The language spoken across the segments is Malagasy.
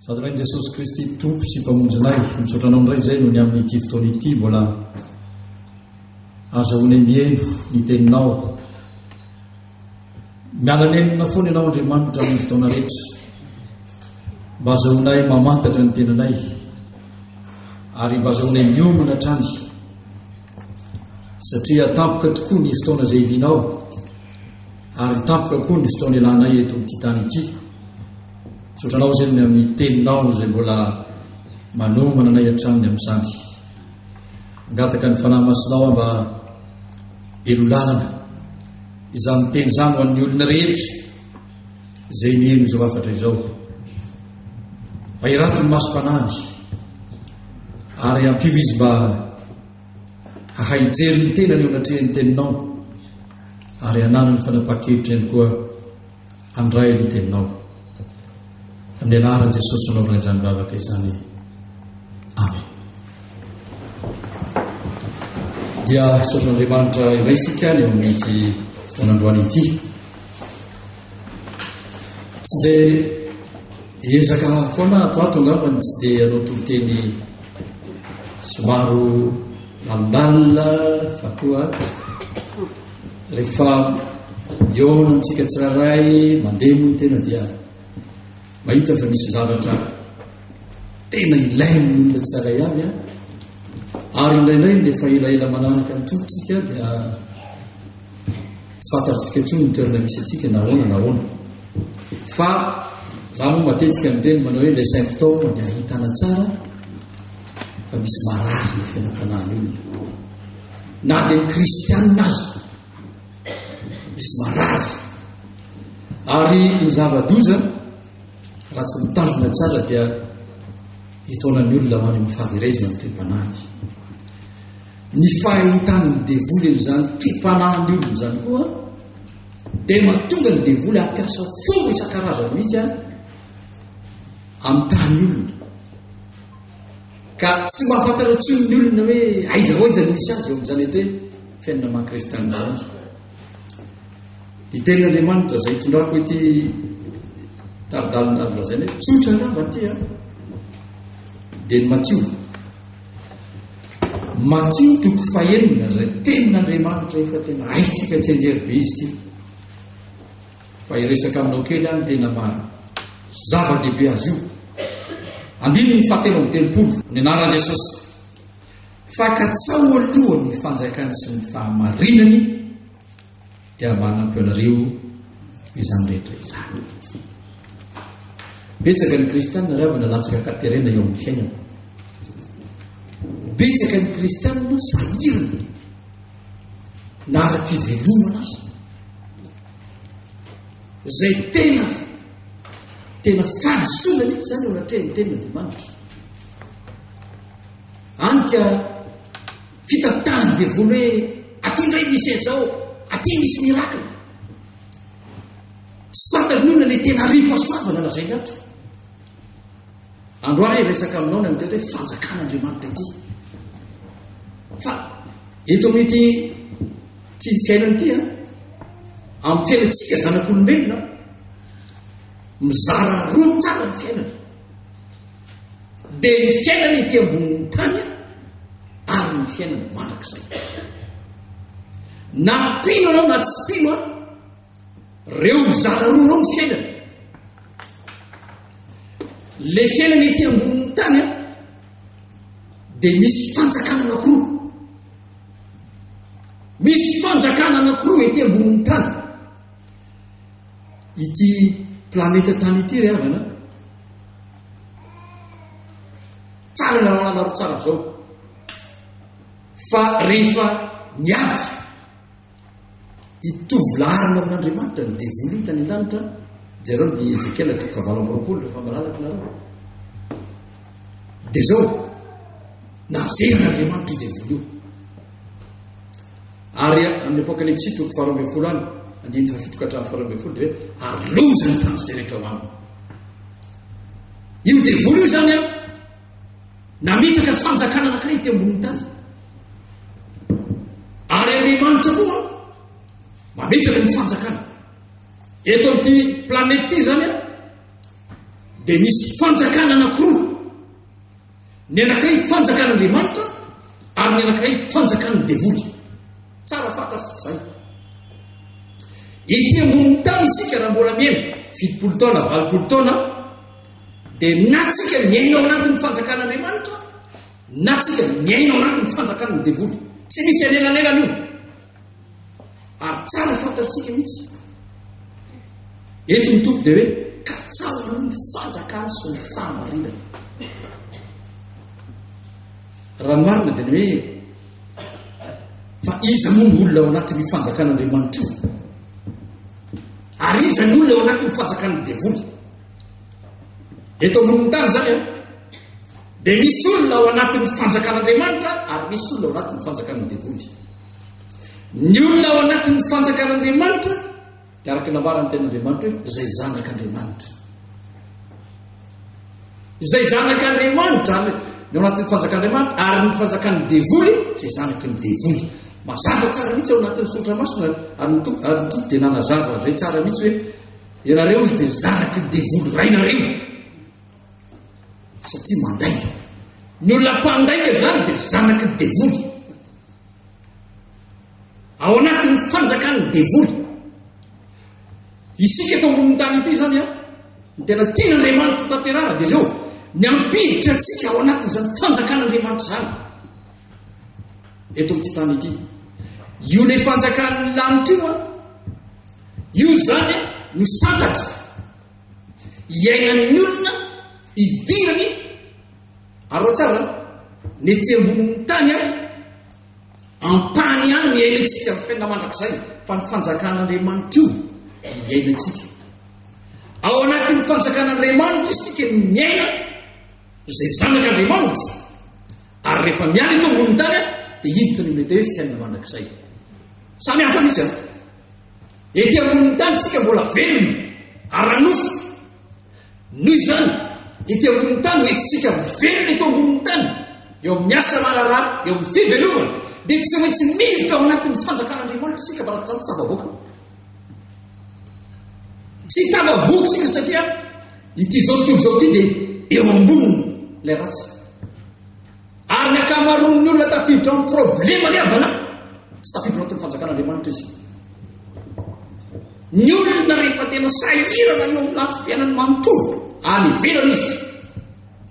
sady rain'i jesosy kristy tompo sy mpamonjinay misaotra anao indray izay noho ny amin'nyity fotoana ity mbola azahoana mieno ny teninao mialanenina foana ianao andriamanitra amin'ny fotoana rehetra mba azahoanay mamantatra ny tenanay ary mba azahoanay miomana hatrany Satria tampoka tokoa ny fotoana izay hivianao, ary tampoka koa ny fotoana ilanay eto amin'ity tany ity. Misaotra anao izany amin'ny teninao izay mbola manomana anay hatramin'ny amin'izany. Angataka ny fanahy masinao mba elolalana izany teny izany ho an'ny olona rehetra. izay mihaino izao hafatra izao. Vairato ny masom-panahy ary ampio izy mba hahay hijery ny tenany eo anatrehan'ny teninao ary hananany fanapaha-kevitra ihany koa handray ny teninao. Amin'ny anaran'i Jesosy anaovana izany vavaka izany. Amen. Dia sotr'Andriamanitra iray isika ny amin'ity fotoan'androany ity. Tsy dia ezaka foana ato ato angamba ny tsy dia anao toloteny somaro mandalina fa koa rehefa miona amintsika tsirairay mandeha moa ny tena dia mahita fa misy zavatra tena ilainy olona tsirairay ihany an ary indraindray ny efa elaela manaraka ny tompontsika dia Tsy fantatsika intsony ny toerana misy antsika na ahoana na ahoana. Fa za moa matetika miteny manao hoe le symptôme dia ahitana tsara fa misy marary ny fiainam-panahin'ny olona. Na dia ny kristianina azy misy marary. Ary ny zava-doza raha tsy mitandrina tsara dia hitaonan'ny olona ho any amin'ny fahaverezana ny toe-panahy. Ny fahitan'ny devoly an'izany tim-panahin'ny olona izany koa dia mahatonga ny devoly hampiasa fomba isan-karazany mihitsy a amin'ny tany olona. Ka tsy mahafantatra intsony ny olona hoe aiza ho aiza ny misy azy eo amin'izany eto hoe fiainana maha-kristianina azy. Ny tenin'Andriamanitra izay itondrako ity taridalina lazaina hoe tsotra angamba ity a dia ny matio Matio toko fahenina izay tenin'Andriamanitra efa tena haintsika tsianjery be izy ity. Fa hiresaka aminao kely any tena maha zava-dehibe azy io. Andininy fahatelo amin'ny telopolo ny anaran'i Jesosy. Fa katsao aloha ny fanjakany sy ny fahamarinany dia manampy anareo izany rehetra izany. Betsaka ny kristianina raha avana latsaka katerena eo amin'ny fiainana. Betsaka ny kristianina sahirana na ara-pivelomana azy. Izay tena tena fanasoana mihitsy izany eo anatrehan'ny tena Andriamanitra. Any ka Fitantahan'ny devoly hoe aty indray misy aja ao, aty misy miracle. Tsy fantarin'olona ilay tena ripa soavana lazainy ato. Androany resaka aminao na mitety hoe fanjakan'Andriamanitra ity. Fa eto amin'ity ty fiainana ity a, amin'ny fiainantsika zanak'olombelona, mizara roa tsara ny fiainana. dia ny fiainana ety ambonin'ny tany ary ny fiainana mandrakizay. Na mpino anao na tsy mpino an, reo zara roa reo ny fiainana. Le fiainana ety ambonin'ny tany an, dia misy fanjakana anakoroa. Misy fanjakana anakoroa ety ambonin'ny tany. ity planeta tany ity ry havana tsara ny raha anaro tsara zao fa rehefa niady hitovy larina amin'andriamanitra ny devoly hitany an-danitra jereo ny ezekiela toko fahavalo amby roapolo rehefa malalaka nareo dia zao na zerin'andriamanitra io devoly io Ary amin'ny Apokalypsy, toko faharoa ambin'ny folo any, andininy fahafito ka hatramin'ny faharoa ambin'ny folo, dia hoe ary lozany tany izay rehetra ao aminy. Io devoly io izany an, namitaka fanjakana anankiray teo ambonin'ny tany. Ary Andriamanitra koa mamitaka ny fanjakana. Eto amin'ity planety ity izany an, dia misy fanjakana anankiroa Ny anankiray fanjakan'Andriamanitra ary ny anankiray fanjakan'ny devoly. Tsara fantatry izay. Ity ambonin'ny tany isika raha mbola miaina fitopolo taona, valopolo taona dia na tsika miaina ao anatin'ny fanjakan'Andriamanitra na tsika miaina ao anatin'ny fanjakan'ny devoly. Tsy misy anelanelana io. ary tsara fantatsika mihitsy ento ny tompo dia hoe katsaho ny fanjakany sy ny fahamarinany raha ny marina dia ny hoe fa iza moa ny olona ao anatin'ny fanjakan'andriamanitro ary iza ny olona ao anatin'ny fanjakan'ny devoly eto ambonin'ny tany zany a Dia misy olona ao anatin'ny fanjakan'Andriamanitra ary misy olona ao anatin'ny fanjakan'ny devoly. Ny olona ao anatin'ny fanjakan'Andriamanitra dia araka nambaran'ny ten'Andriamanitra hoe izay zanak'Andriamanitra. Izay zanak'Andriamanitra ny ao anatin'ny fanjakan'Andriamanitra ary ny fanjakan'ny devoly izay zanaky ny devoly. Mazava tsara mihitsy ao anatin'ny sotra masina ary ny tompo ary ny tompo dia nanazava izay tsara mihitsy hoe ianareo izy dia zanaky ny devoly rainareo. satria mandainga ny olona mpandainga zany dia zanaky ny devoly ao anatin'ny fanjakan'ny devoly isika eto ambonin'ny tany ity zany a ny tena tiana andriamanitra tanterana dia zao ny ampiditra atsika ao anatin'izany fanjakan'andriamanitra zany eto amity tany ity io le fanjakan'ny lanitra io a io zany no santatra iainan'ny olona idirany ary ao tsara ny ety ambonin'ny tany aho ampany ihany ny iainantsika ny fiaina mandrakizay fa ny fanjakan'andriamanitra io iainantsika ao anatin'ny fanjakan'andriamanitra isika ny miaina izay zanak'andriamanitra ary rehefa miany eto ambonin'ny tany aho dia hiditra ny mety hoe fiaina mandrakizay samy hafa misy aho Ety ambonin'ny tany isika mbola velona, ara-nofo. Noho izany, ety ambonin'ny tany, ho entintsika mivelona eto ambonin'ny tany, eo amin'ny asa marara, eo amin'ny fivelomana, dia tsy maintsy miditra ao anatin'ny fanjakan'Andriamanitra isika mba tsy tafavoaka. Tsy tafavoaka isika satria ity izao tontolo izao ity dia eo amboniny ilay ratsy. Ary ny ankamaroan'ny olona tafiditra amin'ny problema ny havana tsy tafiditra anatin'ny fanjakan'Andriamanitra izy. Ny olona rehefa tena sahirana eo amin'ny lafim-piainany manontolo, any ivelany izy.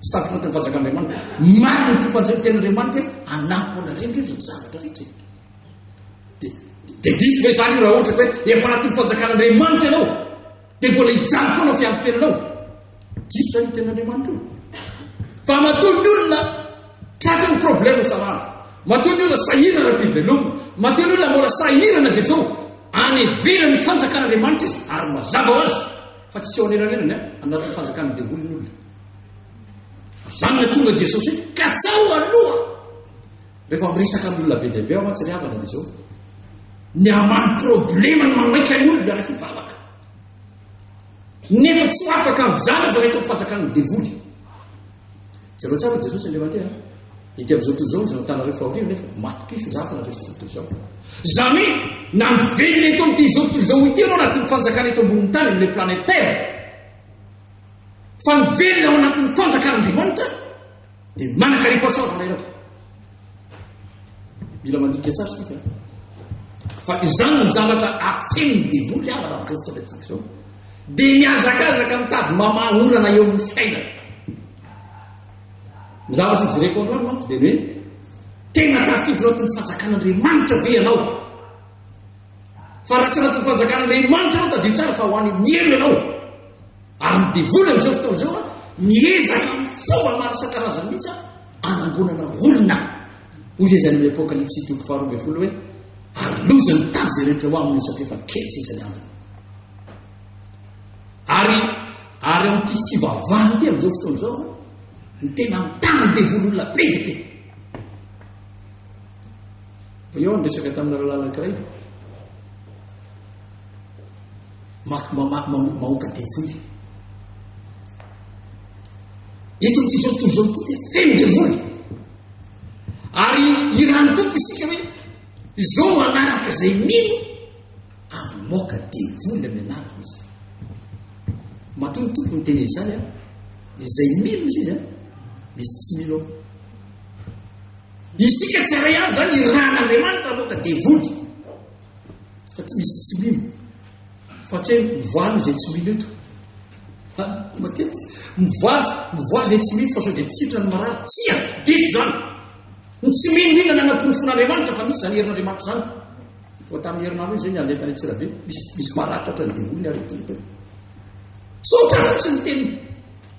Tsy tafiditra anatin'ny fanjakan'Andriamanitra. Marina ny tompanjeny tenin'Andriamanitra hoe hanampy anareo izy ny zavatra rehetra. Dia diso ve izany raha ohatra hoe efa anatin'ny fanjakan'Andriamanitra ianao? Dia mbola hijaly foana fiantompelanao. Diso zany tena Andriamanitra io. Fa matoa ny olona tratry ny problème salama. Matoa ny olona sahirana dia veloma. Matoa ny olona mbola sahirana dia zao any ivelany ny fanjakan'Andriamanitra izy ary mazava ho azy fa tsy tsy eo anelanelan'ny anatin'ny fanjakan'ny devoly ny olona. Zany na tonga Jesosy ka tsaho aloha. Rehefa miresaka amin'ny olona be dia be aho mantsy ry havana dia izao. Ny ambany problema ny mamaika ny olona rehefa hivavaka. Nefa tsy ho afaka amin'izany aza rehefa mifanjakan'ny devoly. Jereo tsara Jesosy Andriamanteha. Ity amin'izao tontolo izao izao tanareo fahoriana nefa maty pify zaka na rehefa fototra izao. Izany hoe na ny velona eto amin'ity izao tontolo izao ity ianao anatin'ny fanjakana eto ambonin'ny tany amin'ilay planète Terre. Fa ny velona ao anatin'ny fanjakan'Andriamanitra Dia manakariako asa aho raha Mila mandinika tsara sika. Fa izany ny zavatra afen'ny devoly avana amin'izao fotoana antsika izao. Dia mihazakazaka mitady mamaha olana eo amin'ny fiainana. Ny zavatra jereko androany manko dia ny hoe tena tafiditra anaty ny fanjakan'Andriamanitra ve ianao? Fa raha tsy anaty ny fanjakan'Andriamanitra ianao tadidio tsara fa ho any amin'ny helo ianao. Ary ny devoly amin'izao fotoana izao miezaka amin'ny fomba maro isan-karazany mihitsy hanangonana olona. Hoy izay izany amin'ny Apokalypsy toko faharoa ambin'ny folo hoe, Ary loza ny tany izay rehetra ho aminy io satria efa kely sisa ny androny. Ary ary amin'ity fivavahana ity amin'izao fotoana izao ny tena mitana ny devoly olona be dia be. Fa eo ny resaka tamin'ny rahalahy anankiray mahoaka devoly. Eto amin'ity izao tontolo izao ity dia feno devoly. Ary irany toko isika hoe izao no anaraka izay mino amin'ny moka devoly amin'ny anaraka izy. Matoa ny toko ny teny izany an, izay mino izy izy an, misy tsy mino ao. Isika tsy aray avy izany irana Andriamanitra moka devoly. fa tsy misy tsy mino fa tsy hoe mivoaly izay tsy mino eto fa matetika mivoaly mivoaly izay tsy mino fa sao dia tsitra ny marary tsia diso zany ny tsy mino indrindra ny anaporofon'andriamanitra fa misy zany herin'andriamanitra zany fa tamin'ny herinandro izy ny andeha tany tsirabe misy misy maratra ohatran'ny devoly ny aretina teo saotra fotsiny teny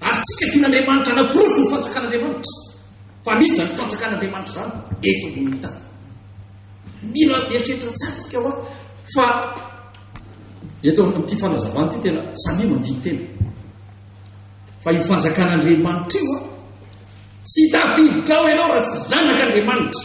Ary tsy kajian' Andriamanitra hanaporofo ny fanjakan' Andriamanitra fa misy izany fanjakan' Andriamanitra izany eto ambonin'ny tany. Mila mieritreritra tsara isika hoa fa eto amin'ity fanazavana ity tena samia mandini-tena fa io fanjakan' Andriamanitra io a tsy tafiditra ao ianao raha tsy zanak' Andriamanitra.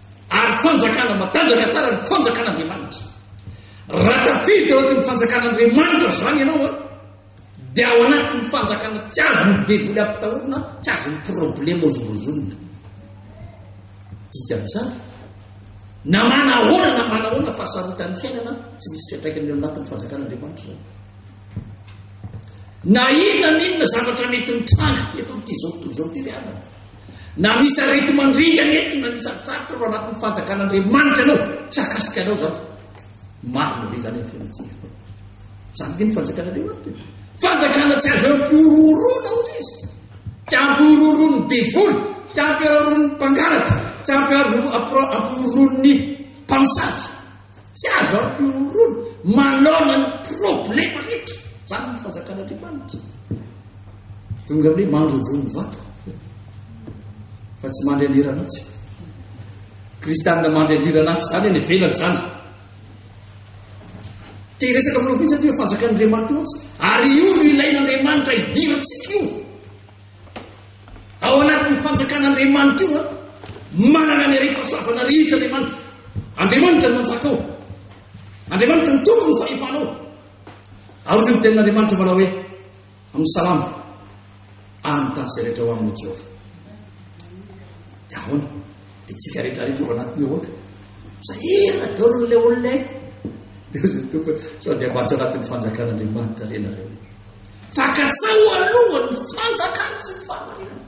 Ary fanjakana matanjaka tsara ny fanjakan'Andriamanitra. Raha tafiditra ao anatin'ny fanjakan'Andriamanitra izany ianao a, dia ao anatin'ny fanjakana tsy azon'ny devoly ampitahorina, tsy azon'ny problema ozongozonina. Dika amin'izany, na manahoana na manahoana fa sarotan'ny fiainana, tsy misy fiantraikany eo anatin'ny fanjakan'Andriamanitra izany. Na inona na inona zavatra mety mitranga eto amin'ity izao tontolo izao ity ry havana. Na misy areti-mandringana eto na misy atsatotra eo anatin'ny fanjakan'Andriamanitra anao, tsy akasika anao zany. Marina be zany ny fiainantsika. Zany dia ny fanjakan'Andriamanitra. Fanjakana tsy azo ampiororona ozy izy. Tsy ampiororon'ny devoly, tsy ampiororon'ny mpangalatra, tsy ampiororon'ny mpamosavy. Tsy azon'ny mpihorohoro manaona ny problema rehetra. Izany ny fanjakan'Andriamanitra. Tonga amin'ny mandrovoa ny vato fa tsy mandry andirana atsy. Kristianina mandry andirana atsy izany any velany izany. Te resaka amin'ireo mihitsy aty fanjakan'Andriamanitra hotsy. Ary io no ilain'Andriamanitra hidirantsika io. Ao anatin'io fanjakan'Andriamanitra io, manana ny harem-pahasoavana rehetra Andriamanitra. Andriamanitra no manjaka ao. Andriamanitra ny tompo ny fahefana ao. Ary ny tenin'Andriamanitra manao hoe amin'ny salama any tany izay rehetra ho amin'ny Jehovah. Dia ahoana? Dia tsika rehetra rehetra ao anatin'ny ahoana? Zahera daholo ilay olona e. Dia ny tompo sao dia mbatsy anatin'ny fanjakan'Andriamanitra renareo. Fakatsao aloha ny fanjakana sy ny fahamarinana.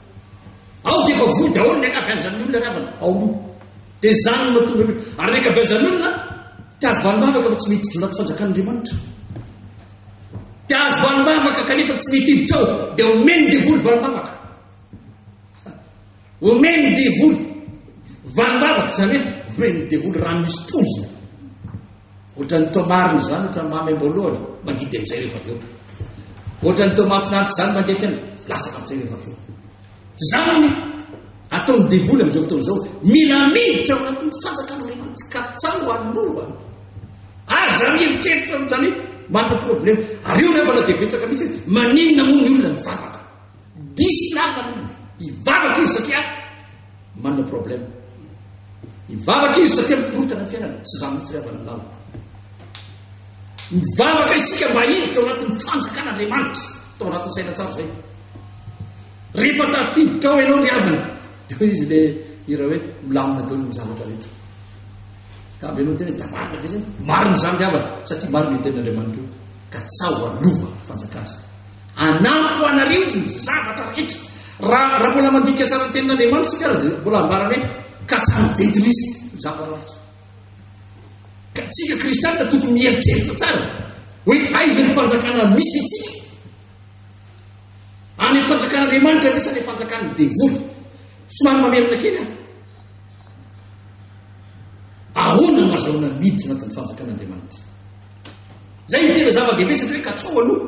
Ao dia efa voa daholo ny ankabeazan'ny olona ravana ao aloha. Dia izany no mahatonga ny ary ny ankabeazan'ny olona dia azo vanim-bavaka fa tsy mety hiditra anaty fanjakan'Andriamanitra. Dia azo vanim-bavaka kanefa tsy mety hiditra ao dia omen'ny devoly vanim-bavaka. Omen'ny devoly valim-bavaka, izany hoe omen'ny devoly rano misy poizina. Ohatran'ny toa marina izany, ohatran'ny mamy am-boalohany, mangidy amin'izay rehefa avy eo. Ohatran'ny toa mahafinaritra izany mandeha fiainana, latsaka amin'izay rehefa avy eo. Izany ny ataon'ny devoly amin'izao fotoana izao, mila miditra ao anatin'ny fanjakan'Andriamanitra ka tsao aloha. Aza mieritreritra amin'izany manana problema. Ary io rehefa na dia betsaka mihitsy, maninona moa ny olona mivavaka? Diso namana io, hivavaka izy satria manana problème. Hivavaka izy satria mikorontana ny fiainana, tsy za mihitsy ry havana ny lalako. Mivavaka isika mba hiditra ao anatin'ny fanjakana Andriamanitra, tao anatin'ny saina tsara izay. Rehefa tafiditra ao ianao ry havana, dia hoe izy le hira hoe milamina daholo ny zavatra rehetra. Ka avy ianao tena dia marina ve zany? Marina izany ry havana, satria marina io tenin'Andriamanitra io, ka tsaho alova fanjakana izay. Hanampo anareo ny zavatra rehetra. Raha, raha mbola mandika tsara ny Tenin'Andriamanitra isika ary dia mbola ambarany hoe, ka tsy hanojentilizy ny zavatra rehetra. Ka isika kristianina tokony mieritreritra tsara hoe aiza ny fanjakana misy antsika. Any amin'ny fanjakan'Andriamanitra ve sa any amin'ny fanjakan'ny devoly? Somary mamerina kely aho. Ahoana no azahoana miditra anatin'ny fanjakan'Andriamanitra? Izay no tena zava-dehibe satria hoe katsao aloha.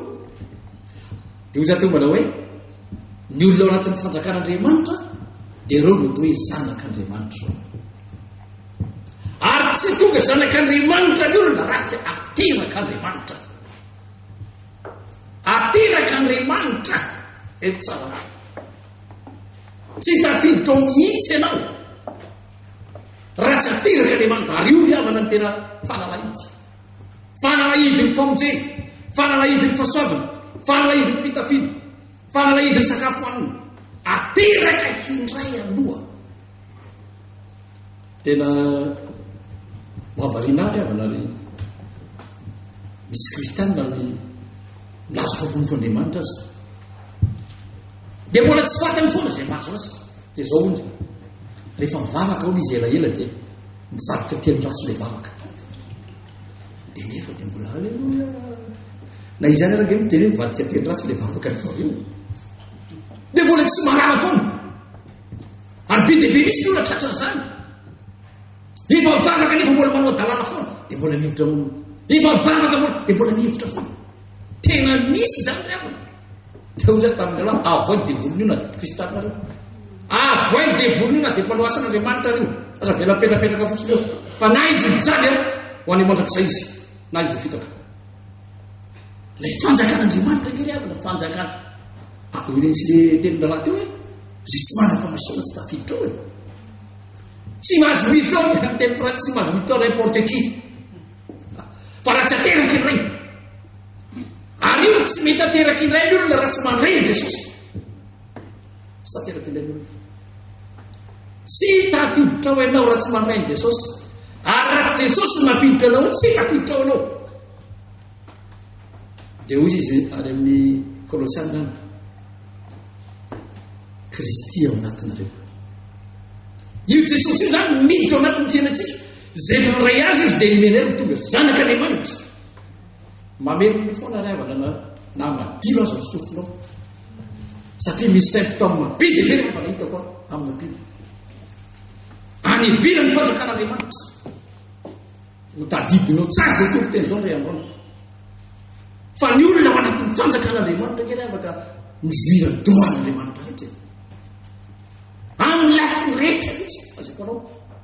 Dia hoy izaho teo manao hoe ny olona ao anatin'ny fanjakan'Andriamanitra dia ireo no atao hoe zanak'Andriamanitra. Ary tsy tonga zanak'Andriamanitra ny olona raha tsy aterak'Andriamanitra. Aterak'Andriamanitra. Eto tsara. Tsy tafiditra ao mihitsy ianao. Ratsy ateraka dia mandario ny havana ny tena fanalahidy. Fanalahidy ny famonjena, fanalahidy ny fasoavana, fanalahidy ny fitafiana, fanalahidy ny sakafo hanina. Ateraka hindray aloha. Tena mahavariana ahy havana ry misy kristianina ny milaza fampolofo Andriamanitra aza. Dia mbola tsy fatany foana izay mahazo azy. Dia izao hono, rehefa mivavaka hono izy elaela dia mivadika teny ratsy ilay vavaka. Dia nefa dia mbola aleloia. Na izany araka eo dia mivadika teny ratsy ilay vavaka rehefa avy eo. Dia mbola tsy marara foana. Ary be dia be misy ny olona tratra an'izany. Efa mivavaka nefa mbola manao dalàna foana dia mbola mihevitra hono. Efa mivavaka mbola dia mbola mihevitra foana. Tena misy izany ry havana. Dia hoy izaho tamin'ny lehilahy, avohay ny devolin'io na dia mpikristana ary io. Avohay ny devolin'io na dia mpanao asan'Andriamanitra ary io. Aza avela mipetrapetraka fotsiny eo. Fa na izy mijaly eo, ho any mandrakizay izy, na izy voafitaka. Ilay fanjakan'Andriamanitra nge ry havana, fanjakana. Ah, hoy ilay teny lehilahy teo hoe, izay tsy manam-pamasoana tsy tafiditra ao e. Tsy mahazo miditra ao, ny teny frantsy, tsy mahazo miditra ao, n'importe qui. Fa raha tsy ateraky ny Ray, ary io tsy mety ateraky ny Ray ny olona raha tsy mandray an'i Jesosy. Tsy tateraky ny Ray ny olona. Tsy tafiditra ao ianao raha tsy mandray an'i Jesosy. Ary raha Jesosy mampiditra anao, tsy tafiditra ao ianao. Dia hoy izy any amin'ny Kolosiana, Kristy ao anatinareo. Io Jesosy io zany miditra ao anatin'ny fiainantsika. Izay nandray azy izy dia nomeny ahy ho tonga zanak'Andriamanitra. Mamelona foana ry havana na na madilo aza ny sofinao. Satria misy symptômes be dia be ry havana hitako amin'ny ampilo. Any ivelany fanjakan'Andriamanitra. Hotadidinao tsara izay toriteny izao ry havana. Fa ny olona ao anatin'ny fanjakan'Andriamanitra kely afaka mizoira dohan'Andriamanitra rehetra. Amin'ny lafiny rehetra mihitsy, azoko anao.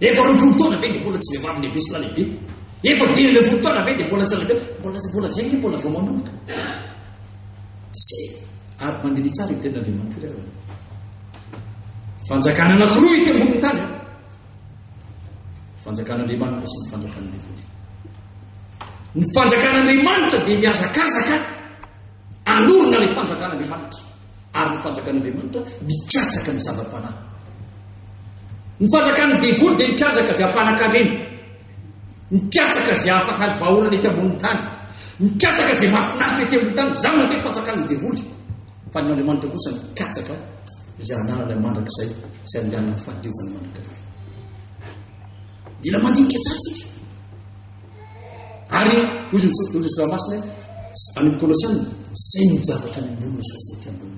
Efa roapolo taona ve dia mbola tsy vehivavy lehibe sy lalehibe? Efa dimy ambin'ny folo taona ve dia mbola tsy lalehibe? Mbola mbola izay nge mbola vao manomboka. Se ary mandini tsara io tenin'Andriamanitra io ary. Fanjakana anankiroa ity ambonin'ny tany. Fanjakan'Andriamanitra sy ny fanjakan'ny devoly. Ny fanjakan'Andriamanitra dia mihazakazaka Hanorina ny fanjakan'Andriamanitra, ary ny fanjakan'Andriamanitra mikatsaka ny zava-panahy. Ny fanjakan'ny devoly dia mikatsaka izay hampanan-karena, mikatsaka izay afaka ny vahoana ety ambonin'ny tany, mikatsaka izay mahafinaritra ety ambonin'ny tany, izany mandeha fanjakan'ny devoly. Fa ny Andriamanitra kosa mikatsaka izay anarana mandrakizay, izay anganan'ny fahadiovana mandrakizay. Mila mandinika tsara isika. Ary hoy izy hoy izy raha masina any Kolosiana izay no zavatra ny ambony ny sosety ambony.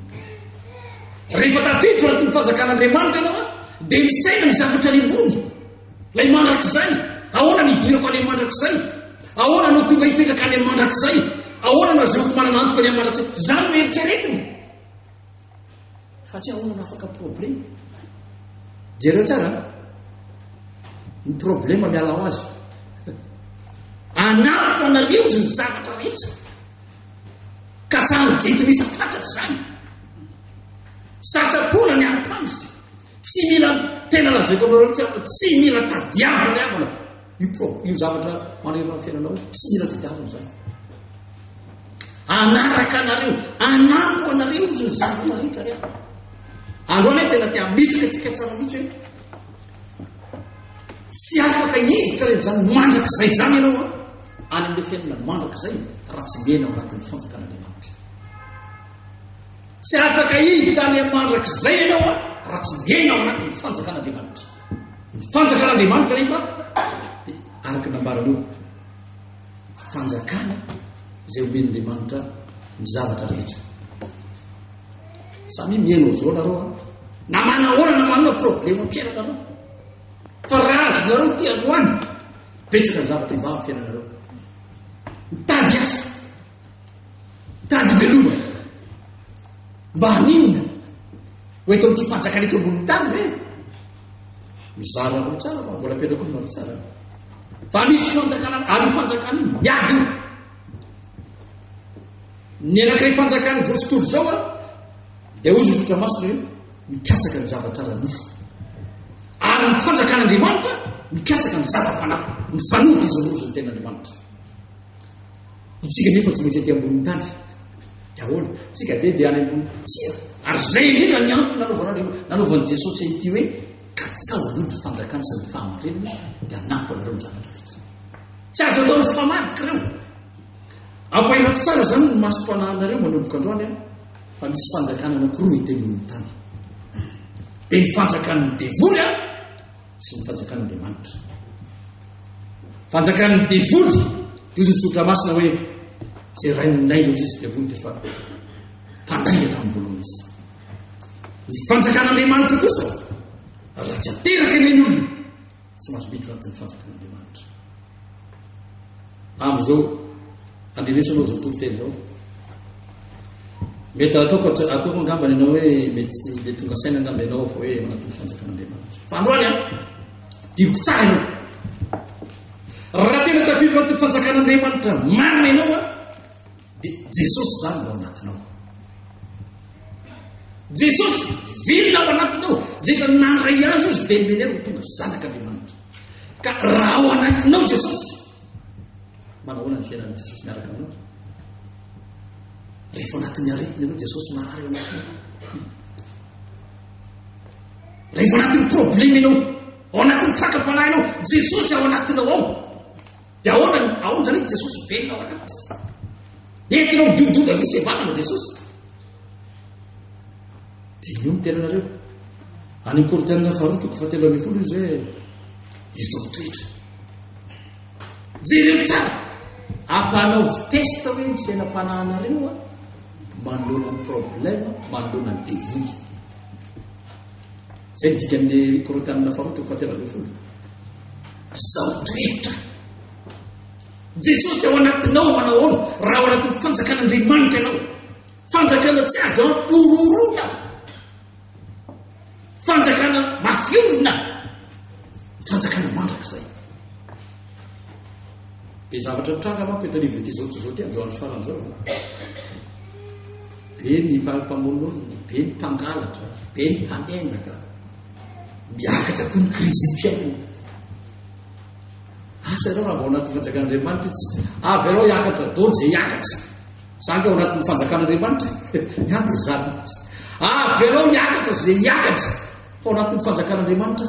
Rehefa tafiditra anaty ny fanjakan'Andriamanitra ianao dia misaina ny zavatra ny ambony. Ilay mandrakizay, ahoana ny idirako any mandrakizay? Ahoana no tonga hipetraka any mandrakizay? Ahoana no azoko manana antoka any mandrakizay? Izany no eritreretina. Fa tsy ahoana no afaka problème. Jereo tsara an. Ny problème mialao azy. Anariko anareo izy ny zavatra rehetra. Ka sa ny jentinisa fatratra izany. Sasapona ny ampandritra. Tsy mila tena lazaiko anareo tsy mila tadiavina ny havana. Io pro, io zavatra manerana ny fiainanao tsy mila tadiavina izany. Anaraka anareo, anampo anareo izy ny zavatra marehetra rehetra. Androany tena te hamitsika antsika tsara mihitsy hoe tsy afaka hiditra rehetra izany mandrakizay izany ianao a any amin'ilay fiainana mandrakizay raha tsy mena ao anatin'ny fanjakan'Andriamanitra. Tsy afaka hiditra any mandrakizay ianao a raha tsy mena ao anatin'ny fanjakan'Andriamanitra. Ny fanjakan'Andriamanitra nefa dia araka ny nambarany eo, fanjakana izay omen'Andriamanitra ny zavatra rehetra. Samy mihaino zao nareo na manahoana na manana problema fiainanareo fa raha azonareo ty androany betsaka ny zavatra hivaha fiainanareo mitady asa Tady veloma. Mba haninona? Ho eto amin'ity fanjakana eto ambony tany ve? Mizara anao tsara fa mbola apetrako aminareo tsara. Fa misy fanjakana ary fanjakana io miady io. Ny anankiray fanjakana izao tontolo izao a dia hoy zotra masina hoe mikasaka ny zavatra ara-nofo. Ary ny fanjakan'Andriamanitra mikasaka ny zava-panahy, ny fanody izao roa izao ny ten'Andriamanitra. Itsika anefa tsy maintsy aty ambonin'ny tany daholo. Tsika dia dia any ambony tsika. Ary izay indrindra ny antony nanaovan'Andriamanitra, nanaovan'i Jesosy an'ity hoe katsaho aloha ny fanjakana sy ny fahamarinana dia hanampy anareo ny zavatra rehetra. Tsy azo atao mifamadika ireo. Ampahilato tsara izany ny masom-panahinareo manomboka androany an, fa misy fanjakana anankiroa hita eny amin'ny tany. Dia ny fanjakan'ny devoly an, sy ny fanjakan'Andriamanitra. Fanjakan'ny devoly, toy ny tsotra masina hoe izay rain'ny lainga izy devoly dia fa mpandainga tamin'ny voalohany izy. Ny fanjakan'Andriamanitra kosa raha tsy ateraka ny olona tsy mahazo miditra anatin'ny fanjakan'Andriamanitra. Amin'izao, andrenesao ianao izao toriteny izao. Mety ataoko ataoko angamba ianao hoe mety tsy dia tonga saina angamba ianao fa hoe manatody fanjakan'Andriamanitra. Fa androany an, diriko tsara ianao. Raha tena tafiditra anaty fanjakan'Andriamanitra marina ianao an, Dia Jesosy izany ao anatinao. Jesosy vilona ao anatinao, izay efa nandray azy izy dia menera ho tonga zanak'Andriamanitra. Ka raha ao anatinao Jesosy, manahoana ny fiainan'i Jesosy miaraka aminao? Rehefa ao anatin'ny aretina ianao Jesosy marary ao anatinao. Rehefa ao anatin'ny problema ianao, ao anatin'ny fakam-panahinao, Jesosy ao anatinao ao. Dia ahoana ny aondra an'i Jesosy velona ao anatiny? Dia tena midihododo avy sy vatana Jesosy. Diniho ny tenanareo. Any Korintianina faharoa toko fahatelo ambin'ny folo izy hoe izao toetra. Jereo tsara. Ampanaovy test hoe ny fiainam-panahinareo manoloana ny problème, manoloana ny délit. Izay ny dikan'ny Korotanina faharoa toko fahatelo ambin'ny folo. Izao toetra. Jesosy ao anatinao manao ahoana raha ao anatin'ny fanjakan'Andriamanitra ianao. Fanjakana tsy azo ampororona. Fanjakana mafiorina. Fanjakana mandrakizay. Dia zavatra mitranga manko eto anivon'ity zao toy izao ity amin'izao andro farany izao. Be ny valim-pamonoana, be ny mpangalatra, be ny mpanendaka, miakatra koa ny krizim-piainana. Asa ianao raha vao anatin'ny fanjakan'Andriamanitra tsy avy ianao hiakatra dôny izay hiakatra. Izany ka ao anatin'ny fanjakan'Andriamanitra, ihany izany. Avy ianao hiakatra izay hiakatra, fa ao anatin'ny fanjakan'Andriamanitra.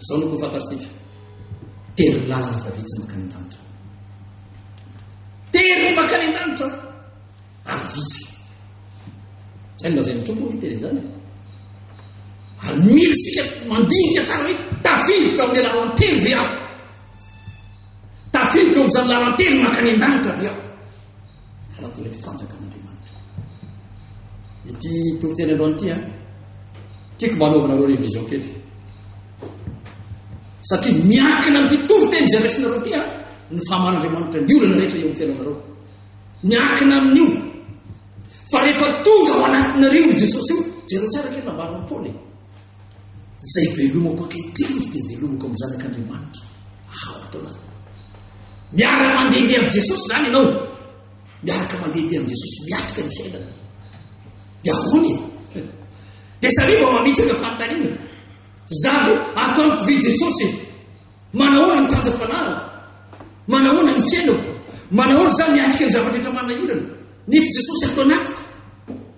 Izao no fantatsika. Tery ny lalana fa vitsy makany an-danitra. Tery ny makany an-danitra ary vitsy. Zay ny lazain'ny tompo ny teny izany. Ary mila isika mandinika tsara hoe tafiditra amin'ny lalan-tery ve aho? Tafiditra amin'izany lalan-tery makany an-danitra ve aho? Arato ilay fanjakan'Andriamanitra. Ity toriteny androany ity an. Tiako mba anaovanareo revision kely. Satria miankina amin'ity toriteny izay raisinareo ity an, ny fahamaran'Andriamanitra ny olana rehetra eo amin'ny fiainanareo. Miankina amin'io. Fa rehefa tonga ao anatinareo i Jesosy io, jereo tsara kely nambaran'i Paoly. Izay velomako ankehitriny dia velomako amin'ny Zanak'Andriamanitra hahaho taolana. Miaraka mandehandeha amin'i Jesosy izany ianao, miaraka mandehandeha amin'i Jesosy miatrika ny fiainana. Dia ahoana e? Dia samy vao mametraka fanontaniana. Izany ataon'ny mpividy Jesosy e. Manahoana ny tanjam-panarako? Manahoana ny fiainako? Manahoana izany miatrika ny zava-drehetra manahirana? Ny fi-Jesosy ato anatiko.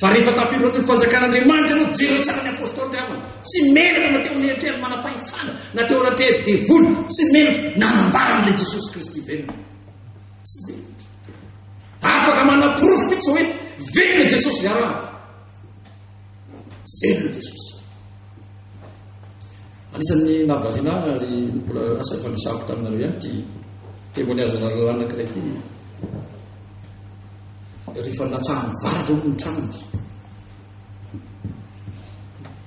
Fa rehefa tafiloatra ny fanjakan'Andriamanitra ianao, jereo tsara ny apostoly rehefa tsy menatra na teo amin'ny eritrery manam-pahefana na teo anaty hery devoly, tsy menatra nanambara an'ilay Jesosy Kristy velona. Tsy menatra. Afaka manaporofo mihitsy hoe velona Jesosy iaraha. Velona Jesosy. Anisan'ny nahavariana ahy ary mbola asa fandresako taminareo ihany ity témoignage anareo anankiray ity. Rehefa natsahan'ny varatra ao ny tranony.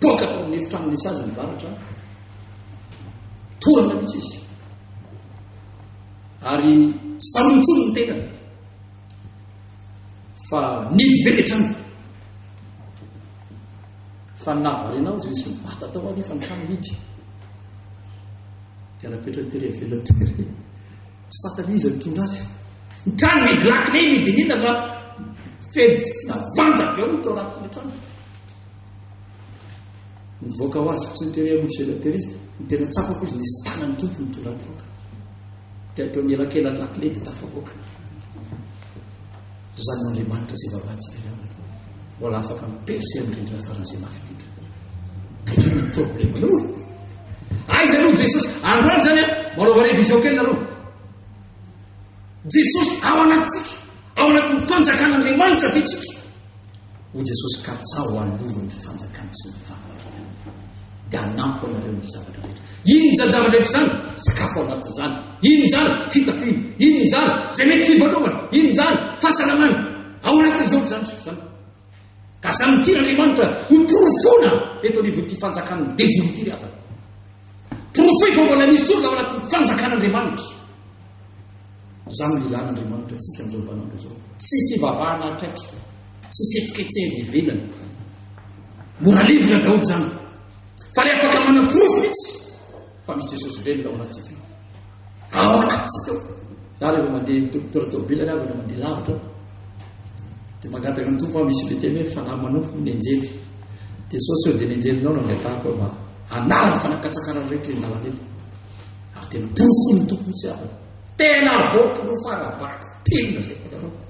Boaka tao amin'ny efitrano nisy azy ny varatra. Torana mihitsy izy. Ary tsy tsaroantsony ny tenany. Fa nidy be ny tranony. Fa ny nahavariana ahy dia nisy nibata tao anefa ny trano mihidy. Dia napetrany tery avela tery. Tsy fantany izy nitondra azy. Ny trano mihidy lakile ny diniana fa feno fofona vanja be ao tao anatin'ny trano. Nivoaka ho azy fotsiny tery amin'ny avela tery izy. Ny tena tsapako izy nisy tanan'ny tompo nitondra ny voaka. Dia teo anelakelan'ny lakile dia tafavoaka. Izany no Andriamanitra izay vavantsika ihany no mbola afaka miperse amin'ny rindrina faran'izay mafy indrindra. Ka inona ny problemanao e? Aiza no Jesosy? Androany izany a, manaova révision kely nareo. Jesosy ao anatintsika, ao anatin'ny fanjakan'Andriamanitra ve tsika? Hoy Jesosy, Katsaho aloha ny fanjakana sy ny fahamarinana, dia hanampo anareo amin'ny zavatra rehetra. Inona zavatra rehetra izany? Sakafo ao anatin'izany. Inona izany? Fitafiana. Inona izany? Izay mety fivalovana. Inona izany? Fahasalamana. Ao anatin'izao ny zandriko izany. Ka izany ny tian'Andriamanitra ho porofona eto anivon'ity fanjakan'ny devoly ity ry havana. Porofo fa mbola misy olona ao anatin'ny fanjakan'Andriamanitra. Izany no ilana Andriamanitra antsika amin'izao vanin'andro izao. Tsy fivavahana akaiky, tsy fihetsiketsehana ivelany. Mora levona daholo izany. Fa le afaka manaporofo mihitsy fa misy Jesosy velona ao anatsika. Ao anatsika. Za rehefa mandeha doktora tobila na avana mandeha lavitra. Dia mangataka amin'ny tompo misy le teny hoe fanahy manompo ny anjely. Jesosy eo dia ny anjelinao no angatahako hoe mba hanala ny fanakatsakana rehetra indalana eny. Ary dia porofo ny tompo mihitsy avana. Tena voaporofo ara-baka. Tena izay voalazaiko.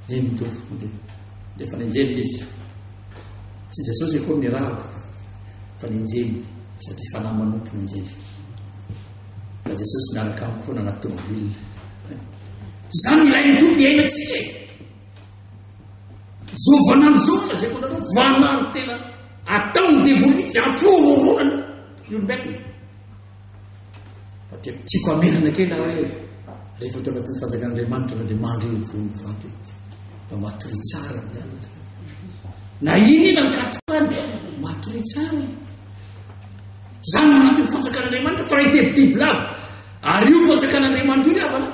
Eny tompoko, dia dia efa nenjehina izy. Tsy Jesosy akory ny rako fa nenjehiny satria fanahy manompo nenjehiny. Fa Jesosy miaraka amiko foana anaty tômôbila. Izany ilay ny tompo iainantsika e. Zo vanano zo no lazaiko anareo, vanano tena ataon'ny devoly mihitsy, ampororoany ny olombelona. Fa dia tiako hamerina kely aho hoe rehefa teo anatin'ny fanjakan'Andriamanitra na dia mandry eo vony vato ety. Mba matory tsara ny alina. Na inona ny katrany, matory tsara. Zany anatin'ny fanjakan'Andriamanitra fa raha teby biby lava. Ary io fanjakan'Andriamanitra io ny havana.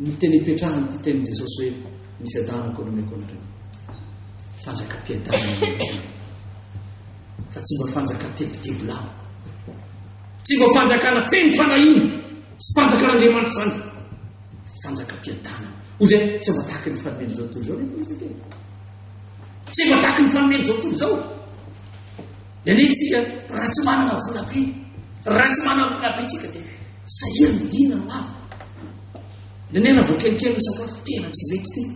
Ny teny ipetrahany ty teny Jesosy hoe ny fiadanako no meko anareo. Fanjakam-piadanana. fa tsy mba fanjaka tebiteby lava. Tsy mba fanjakana feno fanahiana sy fanjakan'Andriamanitra izany. Fanjakam-piadanana. Hoy izay tsy mba tahaka ny fanomeny izao tontolo izao nefa izy tena. Tsy mba tahaka ny fanomeny izao tontolo izao. Dia anetsika raha tsy manana vola be, raha tsy manana vola be tsika dia sahirana inona no avy. Dia nena vao kelikely ny sakafo tena tsy mety tena.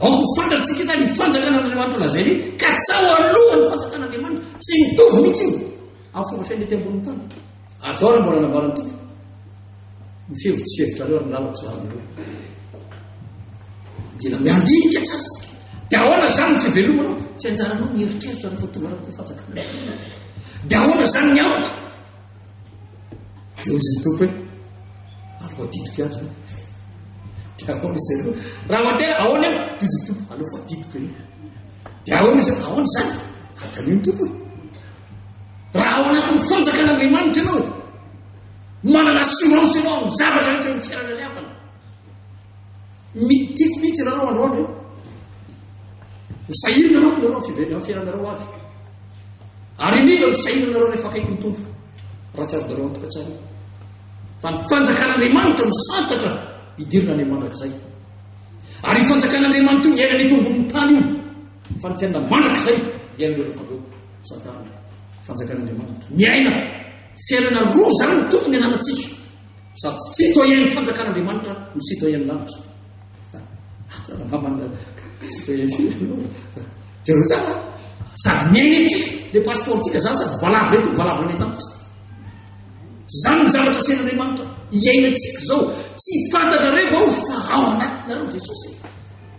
Aoka ho fantatsika izany, ny fanjakan'Andriamanitra lazaina io, katsaho aloha ny fanjakan'Andriamanitra, tsy mitovy mihitsy io amin'ny fomba fiaina ety ambonin'ny tany. Ary izao ary mbola nambaran'ny Tompo, ny fihevitra tsy fihevitrareo ary ny lalako tsy lalinareo. Mila miandinika tsara. Dia ahoana izany ny fivelomanao? Tsy anjaranao mieritreritra rehefa tonga anatin'ny fanjakan'Andriamanitra. Dia ahoana izany ny amiko? Dia hoy izy ny tompo hoe, avy voadidiko ato izany. Dia ahoana izy ireo? Raha mandeha, ahoana eo? Dia izy ny tompo, aleo voadidiko eny. Dia ahoana izy ireo? Ahoana izany? Adalio ny tompo e. Raha ao anatin'ny fanjakan'Andriamanitra ianao, manana assurance ianao amin'ny zavatra rehetra amin'ny fiainana ilay havana. Mi, tiako mihitsy ianareo androany e. Misahirana manko ianareo amin'ny five- amin'ny fiainanareo avy. Ary indrindra ny fisahiranareo rehefa akaiky ny tompo. Raha tsy azonareo antoka tsara io. Fa ny fanjakan'Andriamanitra no santatra hidirina any mandrakizay. Ary ny fanjakan'Andriamanitra io iainana eto ambonin'ny tany io. Fa ny fiainana mandrakizay iainana rehefa avy eo santarina. Fanjakan'Andriamanitra. Miaina fiainana roa zany no tokony ananantsika. Sady tsy citoyen ny fanjakan'Andriamanitra no citoyen ny lanitra. Citoyen jereo tsara. Sady miainetsy le passeport-tsika zany sady valavo eto valavo any an-danitra. Zany ny zavatra asehan'Andriamanitra. Iainantsika zao tsy fantatrareo vao fa ao anatinareo Jesosy.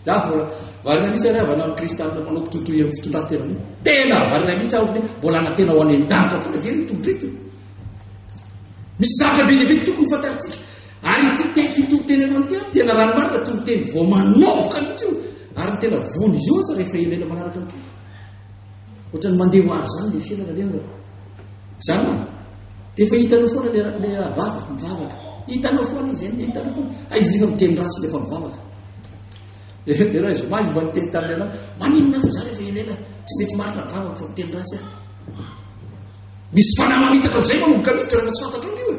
Za mbola varina mihitsy ary avana amin'ny kristianina manao kitotoy amin'ny fitondran-tena. Tena varina mihitsy aho mbola na tena ho any an-danitra foana ve ny tompo eto. Misy zavatra be dia be tokony fantarintsika. Ary ity te ity toriteny anao ity ary tena raha marina toriteny vao manovoka antsika io ary tena vono izy io aza rehefa elaela manaraka ny tompo. Ohatrany mandeha ho avy izany ilay fiainana aleha angamba. Izany hoe dia efa hitanao foana ilay ilay rabava mivavaka. Hitanao foana izy eny, hitanao foana. Aiza efa miteny ratsy ilay efa mivavaka. Iray zoma izy mba niteny tamin'ny anao, maninona fa za rehefa elaela tsy mety marina ny vavako fa miteny ratsy aho. Misy fanahy mamitaka amin'izay ianao no vokatr'io toerana tsy fantatrao io e.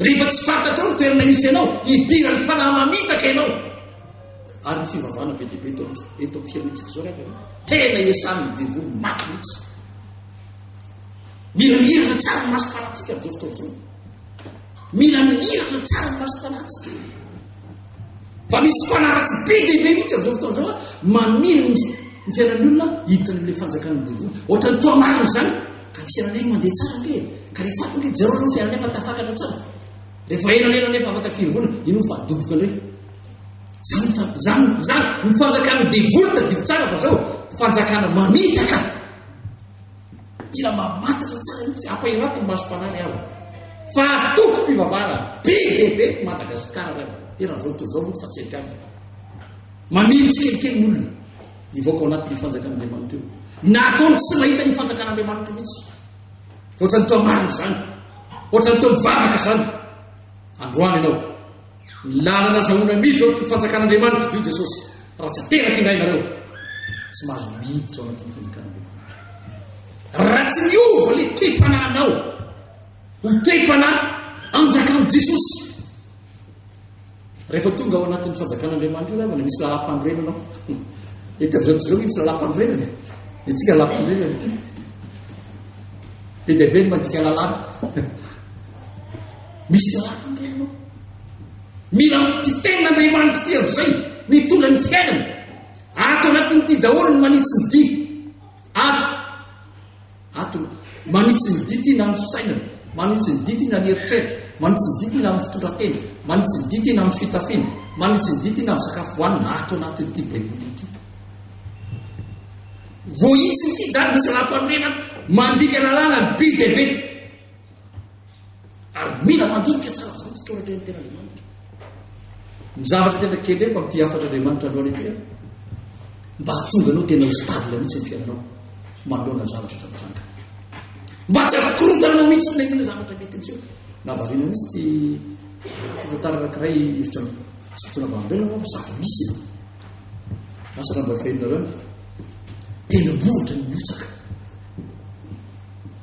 Rehefa tsy fantatrao ny toerana misy ianao, hidiran'ny fanahy mamitaka ianao. Ary ny fivavahana be dia be eto eto amin'ny firenentsika izao rehefa ianao. Tena esan'ny devoly mafy mihitsy. Miramirana tsara ny masom-panahintsika amin'izao fotoana izao. Mila mihiratra tsara ny masom-panahintsika. Fa misy fanaratsy be dia be mihitsy amin'izao fotoana izao mamily ny ny fiainan'ny olona hiditra amin'ilay fanjakan'ny devoly. Ohatran'ny toa marina izany ka ny fiainanay mandeha tsara be. Ka rehefa ato ilay jereo ny fiainanay fa tafakatra tsara. Rehefa elanela nefa afaka firy vola, ino fa doboka indray. Zany zany zany ny fanjakan'ny devoly tadidio tsara fa zao fanjakana mamitaka. Mila mamantatra tsara mihitsy, ampahiratim-bazo mpanahy ry havana fa antokom-pivavahana be dia be eto Madagasikara ry havana, eran'izao tontolo izao manko fa tsy eny ihany fa mamily tsikelikely ny olona hivoaka ao anatin'io fanjakan'Andriamanitra io. Na ataony tsy mahita ny fanjakan'Andriamanitra mihitsy. Ohatrany toa marina izany. Ohatrany toa mivavaka izany. Androany ianao. Ny lalana azahoana miditra ao anatin'ny fanjakan'Andriamanitra dia io Jesosy raha tsy ateraka indray nareo tsy mahazo miditra ao anatin'ny fanjakan'Andriamanitra. Raha tsy miova le toe-panahinao ho toe-panahy anjakan'i Jesosy rehefa tonga ao anatin'ny fanjakan'Andriamanitra io ravana misy lalam-panorenana ao. Eto amin'izao tontolo misy lalam-panorenana. Ny antsika lalam-panorenana ity. Be dia be ny mandika lalàna. misy lalàna ndray ianao mila mity tena andriamanitra ity amin'izay mitondra ny fiainana ato anatin'ity daholo ny manitsy ny dia ato ato manitsy ny dia ity na ny fisainana manitsy ny dia ity na ny eritreritra manitsy ny dia ity na ny fitondratena manitsy ny dia ity na ny fitafiana manitsy ny dia ity na ny sakafo hohanina ato anatin'ity baiboly ity voahitsy ity zany misy laha-panorenana mandika lalàna ny bidebe Ary mila mandinika tsara izany isika eo anatrehan'ny ten'Andriamanitra. Ny zavatra tena kendreko amin'ity hafatr'Andriamanitra androany ity an, mba hahatonga anao tena ho stable mihitsy ny fiainanao manoloana ny zavatra eto mitranga. Mba tsy hahakorotana anao mihitsy sy nenina zavatra mety miseho. Na variana mihitsy ty tantara anankiray hevitra fitoana vambelona moa sady misy e. Asa raha mba fenina ireo. Tena mbohatra ny miotsaka.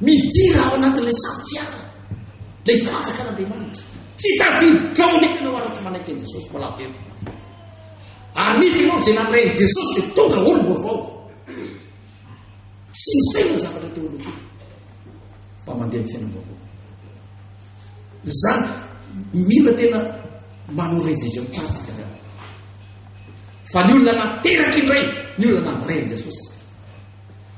Midira ao anatin'ilay samy fiara ilay mpanjakan'Andriamanitra. Tsy tafiditra ao anefa ianao ary tsy manaiky an'i Jesosy mbola avy eo. Ary nety ianao izay nandray an'i Jesosy dia tonga olom-baovao. Tsy nisay ny zavatra teolojia fa mandeha ny fiainam-baovao. Izany mila tena manao revision tsara tsika zany. Fa ny olona nateraky indray, ny olona nandray an'i Jesosy.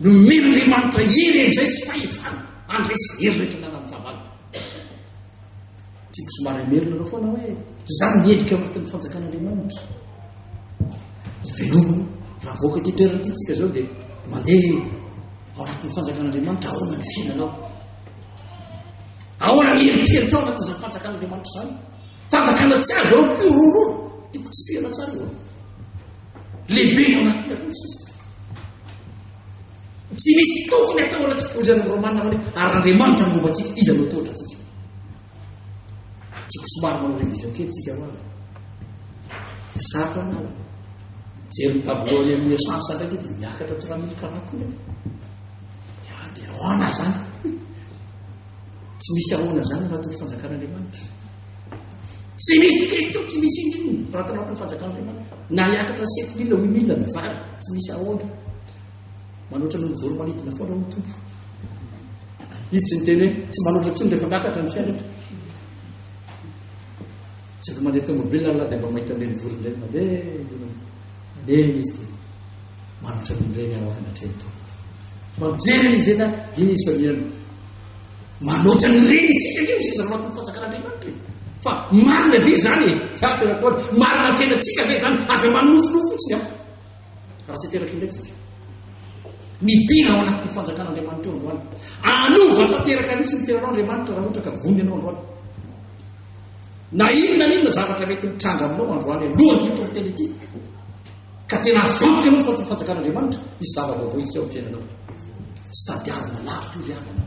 Nomen'Andriamanitra hery amin'izay tsy fahefana handresy hery rehetra ananan'ny fahavalony. Tiako somary hamerina anao foana hoe izany miendrika anatin'ny fanjakan'Andriamanitra. Velomina raha voaka ity toerana ity tsika izao dia mandeha ao anatin'ny fanjakan'Andriamanitra ahoana ny fiainanao. Ahoana ny eritreritra ao anatin'izany fanjakan'Andriamanitra izany. Fanjakana tsy azo ao mpiororo. Tiako tsy fihana tsara eo. Lehibe ao anatin'ny aloha sisa. Tsy misy tokony atao anatsika hoy izany Romana hoe ary Andriamanitra no momba antsika, iza no tohatra antsika. Tiako somary manao revision kely tsika hoa. Dia sarotra anao. Jery ny tableau any amin'ny essence ndraiky dia miakatra trois mille quarante mille. Dia ah, dia ahoana izany? Tsy misy ahoana izany anatin'ny fanjakan'Andriamanitra. Tsy misy i Kristy tsy misy inona inona raha tao anatin'ny fanjakan'Andriamanitra. Na hiakatra ny sept mille, huit mille ny vary, tsy misy ahoana. Manoatra noho ny voromanidina foana ny tompo. Izy tsy miteny hoe tsy manoatra intsony rehefa miakatra ny fiainana. Zaka mandeha tomobile Allah dia mba mahita an'ireny vorona ireny mandeha. Mandeha izy dia manoatra an'ireny aho anatrehan'ny tompo. Mampijery an'izy ireny aho, iny izy fa mihaino. Manoatra an'ireny isika ange no sisa matoa fanjakan'Andriamanitra e. Fa marina ve izany e? Fa tena koa marina ny fiainantsika ve izany? Aza manofinofy fotsiny aho. Raha tsy teraka indray tsika. Midina ao anatin'ny fanjakan'Andriamanitra eo androany. Anova tanteraka mihitsy ny fiainanao Andriamanitra raha ohatra ka vony ianao androany. Na inona na inona zavatra mety mitranga aminao androany alohan'ity toriteny ity. Ka tena azo antoka ianao fa ho tonga fanjakan'Andriamanitra misy zava-baovao hitsy ao am-piainanao. Tsy tadiavina lavitra io ry havana.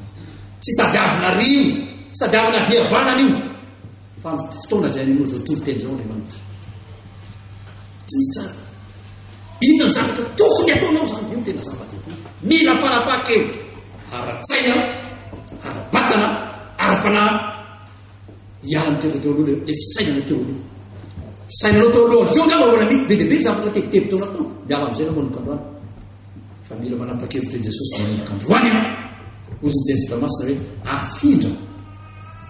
Tsy tadiavina rio, tsy tadiavina viavanana io. Fa amin'ny fotoana izay an'inao izao toriteny izao Andriamanitra. Dinihy tsara. Inona ny zavatra tokony ataonao izany? Io no tena zava-dehibe. Mila fanapahan-kevitra ara-tsaina, ara-batana, ara-panahy. hialan'ny toetra teo aloha ilay fisainana teo aloha fisainanao teo aloha avy eo angamba mbola mety be dia be ny zavatra tebiteby teo anatao miala amin'izay namoa noko androany fa mila manapa-kevitra i jesosy manomboka androany ianao ozy ny teny fitra masina hoe afindra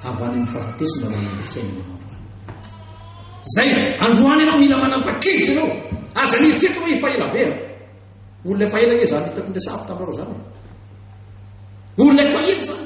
avy any amin'ny fahafatesana manana fisainana ianao zay androany ianao mila manapa-kevitra ianao aza nieritreritra hoe efa ela be a olona efa ela anie zany hitako ny resahako taminareo zany olona efa ela zany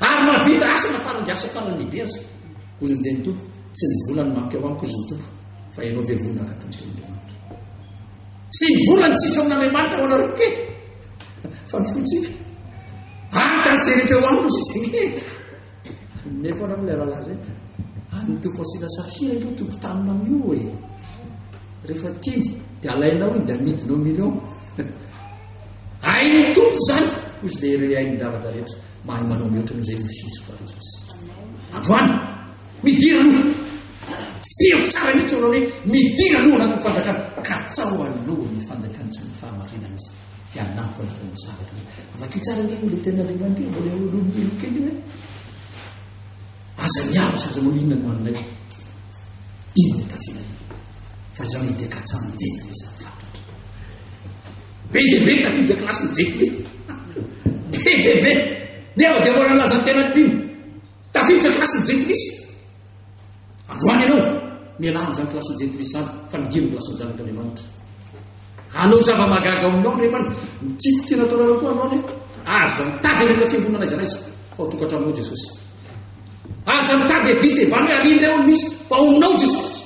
Ary mahavita asa na taranja asa tanana lehibe aza, hoy ny Reny Tompo, tsy ny vola no mampiao amiko, hoy ny Tompo, fa ianao ve vola haka tamin'ny tenin'Andriamanitra? Tsy ny vola no sisa amin'Andriamanitra ho anareo ke, fa ny fontsika. Ary ka izay rehetra ho aminy no sisa ke. Hanome foana amin'ilay rahalahy izay. An'ny Tompo Asina Safira io Tompo tamina amin'io e. Rehefa tiany, dia alainao iny, dia amidinao milion. Ain'ny Tompo izany, hoy izy ilay ireo ain'ny zavatra rehetra. Mahay manao mihoatra noho izay ny Kristy Jesoa Jesosy. Androany, midira aloha. Tsy tiako tsara mihitsy olona hoe midira aloha anatin'ny fanjakana. Katsao aloha ny fanjakana sy ny fahamarinana izy. Dia hanampy anareo ny zavatra. Vakio tsara ny ilay tena Andriamanitra mbola eo aloha ny kely hoe aza miaro sy aza manao inona no anay. Inona tafiana inona. Fa izany dia katsahana jetina izany. Be dia be ny tafiditra kilasy ny Jet Li. Be dia be. Nefa dia mbola nilaza ny tenany mpino. Tafiditra kilasy ny Jet Li. Androany ianao, mialà amin'izany kilasy ny Jet Li izany, fa midiro ny kilasy ny Zanak'Andriamanitra. Hanao zava-magaga aminao ny remana. Ny tiako tena ataonareo koa androany. Aza mitady ireo fiangonana izay naiza, fa ho tokantranonao Jesosy. Aza mitady e visa e, bano e, arindra eo ny misy, fa ominao Jesosy.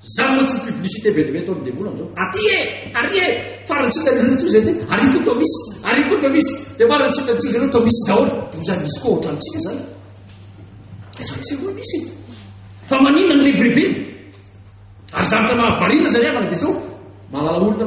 Zany moa tsy publicité be de be ataon'ny devoly amzao. Aty e! Ary e! Farany sisa ny toy zay dia ary koa tao misy, ary koa tao misy. Dia farany sisa toy zay tao misy daholo. Dia ho zany misy koa ohatrantsika zany. Ohatrantsika koa misy. Fa manina ny rebirebena. Ary zavatra mahavariana zany havana dia zao. Malala olona.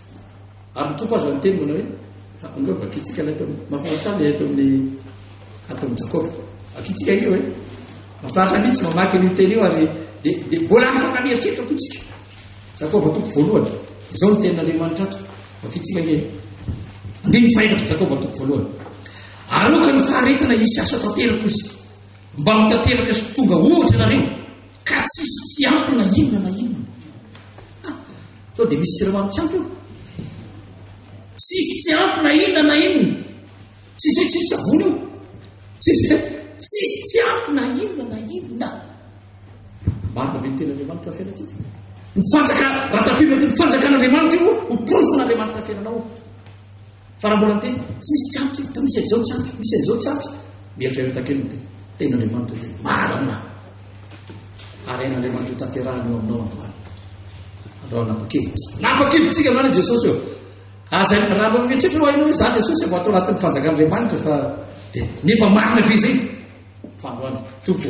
Ary ny Tompo aza niteny manao hoe, Angao vakintsika ilay tao, mahafinaritra ahy ilay ato amin'ny ato amin'ny Jakoba. Vakintsika io hoe, mahafinaritra mihitsy mamaky an'io teny io ary dia dia mbola afaka mieritreritra koa tsika. Jakoba toko voalohany. Izao ny tenin'Andriamanitra ato. Vakintsika io. Andininy fahefatra Jakoba toko voalohany. Aroka ny faharetana hisy asa tanteraka izy. Mba ho tanteraka sy tonga ohatra nareo ka tsisy tsy ampy na inona na inona. Sao dia misy siramamy tsy ampy eo? Tsisy tsy ampy na inona na inona. Tsisy hoe tsisy savony io. Tsisy hoe tsisy tsy ampy na inona na inona. Marina ve ny tenan'Andriamanitra fiainantsika? Ny fanjakana, raha tafiditra ny fanjakan'Andriamanitra io ho porofon'Andriamanitra fiainanao. Fa raha mbola miteny hoe tsy misy tsy ampy eto, misy an'izao tsy ampy, misy an'izao tsy ampy, mieritrereta kely ny tena. Tenin'Andriamanitra dia marina. Ary hain'Andriamanitra tanterahina eo aminao androany. Androany nampakevitra. Nampakevitsika androany i Jesosy eo. Aza raha mbola mieritreritra hoe hainao hoe za Jesosy vao ato anatin'ny fanjakan'Andriamanitra fa dia nefa marina ve izay? Fa androany, Tompo.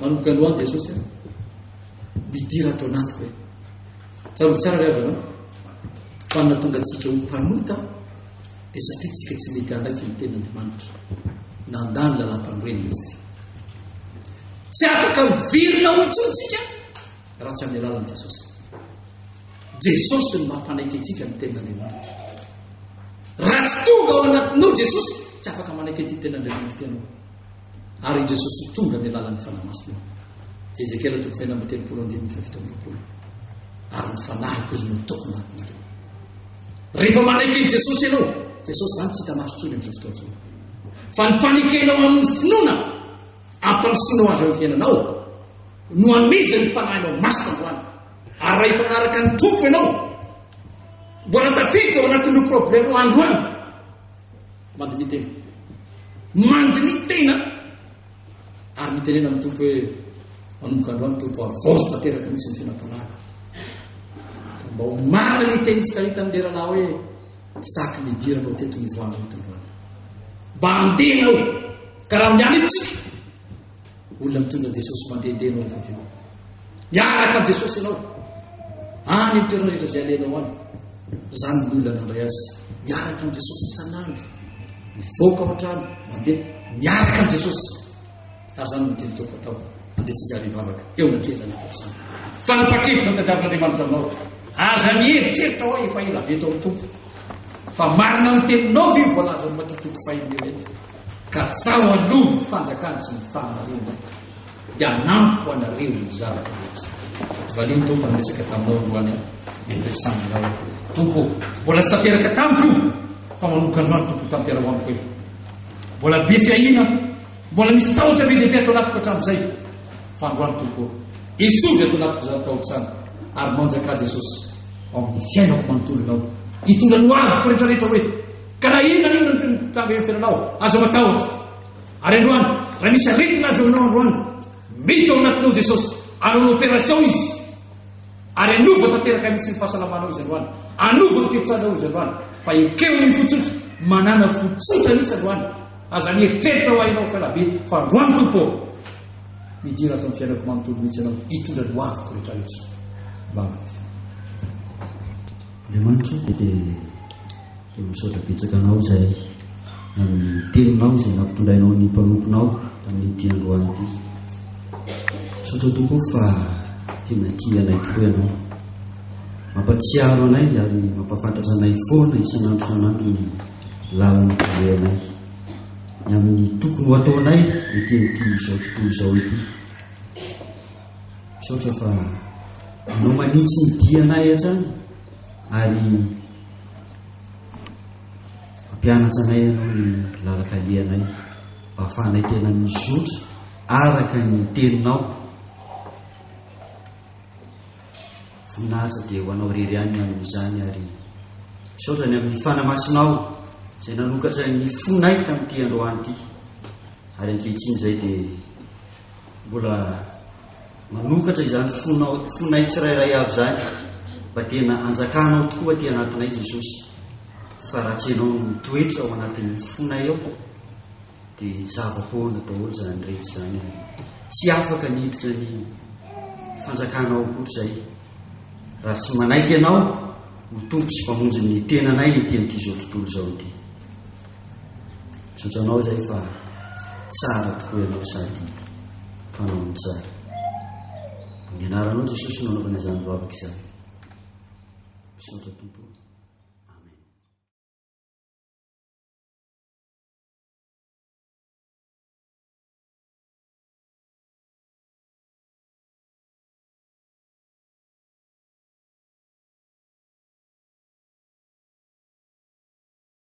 Manomboka androany Jesosy a. Midira ato anatiko hoe. Tsarovy tsara ry havana. Fa ny nahatonga antsika ho mpanota dia satria tsika tsy mety handraiky ny tenin'Andriamanitra. Nandà ny lalam-panorenana izy ity. Tsy afaka mivirina ho intsontsika raha tsy amin'ny alalan'i Jesosy. Jesosy no mampanaiky antsika ny tenin'Andriamanitra. Raha tsy tonga ao anatinao Jesosy, tsy afaka manaiky an'ity tenin'Andriamanitra ianao. ary i Jesosy ho tonga amin'ny alalan'ny Fanahy Masina. Ezekiela toko fahenina amby telopolo andininy fahafito amby roapolo. Ary ny fanahiko izy no ataoko anatinareo. Rehefa manaiky an'i Jesosy ianao, Jesosy izany tsy hita maso intsony amin'izao fotoana izao. Fa ny fanekenao amin'ny finoana, ampandrosoanao azy amin'ny fiainanao, no amezan'ny fanahinao masina androany. Ary raha efa manaraka ny tompo ianao, mbola tafiditra ao anatin'ireo problème androany. Mandiniha tena. Mandiniha tena ary mitenena amin'ny Tompo hoe manomboka androany Tompo havaozo tanteraka mihitsy ny fiainam-panahy. Mba ho marina ny teny fitahitan'ny lerana hoe tsy saky ny hidiranao teto ny voandrina eto androany. Mba andeha ianao ka raha miala etsika Olona mitondra an'i Jesosy mandehandeha ianao rehefa avy eo. Miaraka amin'i Jesosy ianao. Any amin'ny toerana rehetra izay alehanao any. Izany ny olona nandray azy. Miaraka amin'i Jesosy isan'andro. Mivoaka ao an-trano, mandeha. Miaraka amin'i Jesosy. Ary izany no teny toko atao. Andehantsika ary hivavaka. Eo na kely na kely izany. Fanapaha-kevitra no tadiavin'Andriamanitra aminao. Aza mieritreritra hoe efa ela be tao amin'ny Tompo. Fa marina ny teninao ve voalazan'ny matoa toko fahenina eo eny. Ka tsaho aloha ny fanjakana sy ny fahamarinana dia hanampy ho anareo ny zavatra rehetra. Valio ny Tompo niresaka taminao androany dia niresany ianao. Tompo, mbola tsy tanteraka tamiko fa manomboka androany Tompo tanteraho amiko hoe mbola be fiahiana, mbola misy tahotra be dia be ato anatiko hatramin'izay. Fa androany Tompo, esory ato anatiko izany tahotra izany ary manjakà Jesosy ao amin'ny fiainako manontolo ianao. Hitondra ny hoaviko rehetrarehetra hoe Ka na inona na inona no tonga eo fiainanao, aza matahotra. Ary androany, raha misy aretina azo aminao androany, mety ao anatinao Jesosy, anao ny operation Izy, ary hanova tanteraka mihitsy ny fahasalamanao Izy androany, hanova ny toe-tsainao Izy androany, fa ekeo ny fo tsotra, manana fo tsotra mihitsy androany, aza mieritreritra ho hainao fa elabe, fa androany Tompo ô, midira ato amin'ny fiainako manontolo mihitsy Ianao, hitondra ny hoaviko rehetra rehetra. Amen. Andriamanitra dia dia dia misaotra betsaka anao izay amin'ny teninao izay nampitondrainao ny mpanomponao tamin'ity androany ity. Misaotra tompo fa tena tia anay tokoa ianao. Mampatsiaro anay ary mampafantatra anay foana isan'andro san'andro ny lalana anay. Ny amin'ny tokony ho ataonay ety amin'ity izao tontolo izao ity. Misaotra fa anao manitsy ny dianay hatrany ary ampianatra anay ianao ny lalakalehanay mba hahafahanay tena mizotra araka ny teninao. Voninahitra dia ho anao rery ihany amin'izany ary misaotra ny amin'ny fanamasinao izay nanokatra ny fonay tamin'ity androany ity ary ankehitriny izay dia Mbola manokatra izany fonao, fonay tsirairay avy izany mba tena hanjakanao tokoa aty anatinay Jesosy. Fa raha tsy ianao no mitoetra ao anatin'ny fonay ao dia zava-poana daholo izany rehetra izany. Tsy afaka ny hiditra ny fanjakanao akory izay. Raha tsy manaiky ianao ho tompo sy mpamonjy ny tenanay ety amin'ity izao tontolo izao ity. Misaotra anao izay fa tsara tokoa ianao sady mpanao ny tsara. Amin'ny anaranao Jesosy no anaovana izany vavaka izany. Misaotra Tompo.